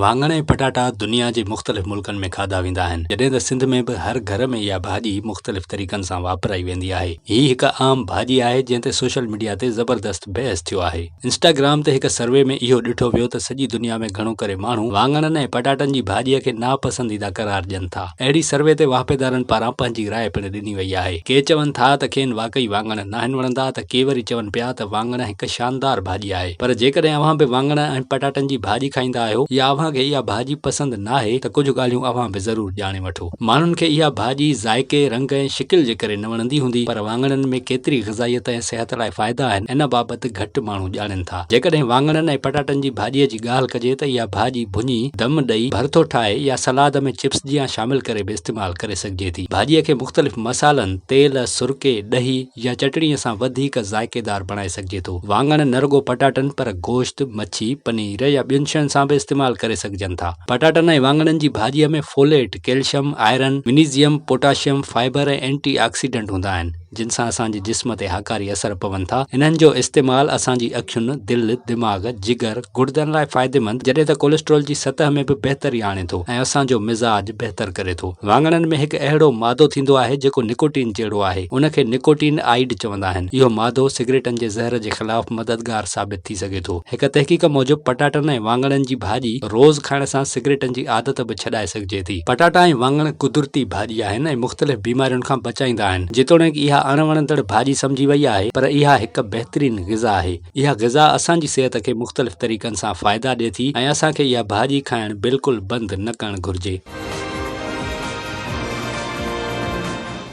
واڱڻ ۽ پٽاٽا دنيا جي مختلف ملڪن ۾ کاڌا ويندا آهن، جڏهن ته سنڌ ۾ به هر گهر ۾ اها ڀاڄي مختلف طريقن سان واپرائي ويندي آهي. هي هڪ عام ڀاڄي آهي، جنهن تي سوشل ميڊيا تي زبردست بحث ٿيو آهي. انسٽاگرام تي هڪ سروي ۾ اهو ڏٺو ويو ته سڄي دنيا ۾ گهڻو ڪري ماڻهو واڱڻن ۽ پٽاٽن جي ڀاڄيء کي ناپسنديده قرار ڏين ٿا. اهڙي سروي تي واهپيدارن پاران پنهنجي راء پڻ ڏني وئي. ڏني وئي آهي. ڪي چون ٿا ته کين واقعي واڱڻ ناهن وڻندا ته ڪي وري چون پيا ته واڱڻ هڪ شاندار ڀاڄي آهي پر جيڪڏهن اوهان به واڱڻ ۽ پٽاٽن جي ڀاڄي کائيندا آهيو يا اوهان کي اها ڀاڄي پسند ناهي ته ڪجهه ڳالهيون اوهان به ضرور ڄاڻي وٺو. ماڻهن کي اها ڀاڄي ذائقي، رنگ ۽ شڪل جي ڪري نه وڻندي هوندي پر واڱڻن ۾ ڪيتري غذائيت ۽ صحت لاء فائدا آهن ان بابت گهٽ ماڻهو ڄاڻين ٿا. جيڪڏهن واڱڻن ۽ پٽاٽن جي ڀاڄي جي ڳالهه ڪجي ته اها ڀاڄي ڀڃي، دم ڏئي، ڀرٿو ٺاهي يا سلاد ۾ چپس جيان شامل ڪري به استعمال ڪري سگهجي ٿي. ڀاڄيء کي مختلف مصالحن، تيل، سرڪي، ڏهي يا چٽڻيء سان وڌيڪ ذائقيدار بڻائي سگهجي ٿو. واڱڻ نه رڳو پٽاٽن پر گوشت، مڇي، پنير يا ٻين شين سان به استعمال ڪري سگهجن ٿا. پٽاٽن ۽ واڱڻن جي ڀاڄيء ۾ folate, calcium, iron, magnesium, potassium, fibre ۽ antioxidant هوندا آهن. جن سان اسان جي جسم تي هاڪاري اثر پون ٿا. انهن جو استعمال اسان جي اکين، دل، دماغ، جگر، گڙدن لاء فائديمند جڏهن ته ڪوليسٽرول جي سطح ۾ به بهتري آڻي ٿو ۽ اسان جو مزاج بهتر ڪري ٿو. واڱڻن ۾ هڪ اهڙو مادو ٿيندو آهي جيڪو نڪوٽين جهڙو آهي. ان کي نڪوٽين آئيڊ چوندا آهن. اهو مادو سگريٽن جي زهر جي خلاف مددگار ثابت ٿي سگهي ٿو. هڪ تحقيق موجب پٽاٽن ۽ واڱڻن جي ڀاڄي روز کائڻ سان سگريٽن جي عادت به ڇڏائي سگهجي ٿي. ٿي. پٽاٽا ۽ واڱڻ قدرتي ڀاڄي آهن ۽ مختلف بيمارين کان بچائيندا آهن. جيتوڻيڪ اها اڻ وڻندڙ ڀاڄي سمجهي وئي آهي پر اها هڪ بهترين غذا آهي. اها غذا اسان جي صحت کي مختلف طريقن سان فائدا ڏي ٿي ۽ اسان کي اها ڀاڄي کائڻ بلڪل بند نه ڪرڻ گهرجي.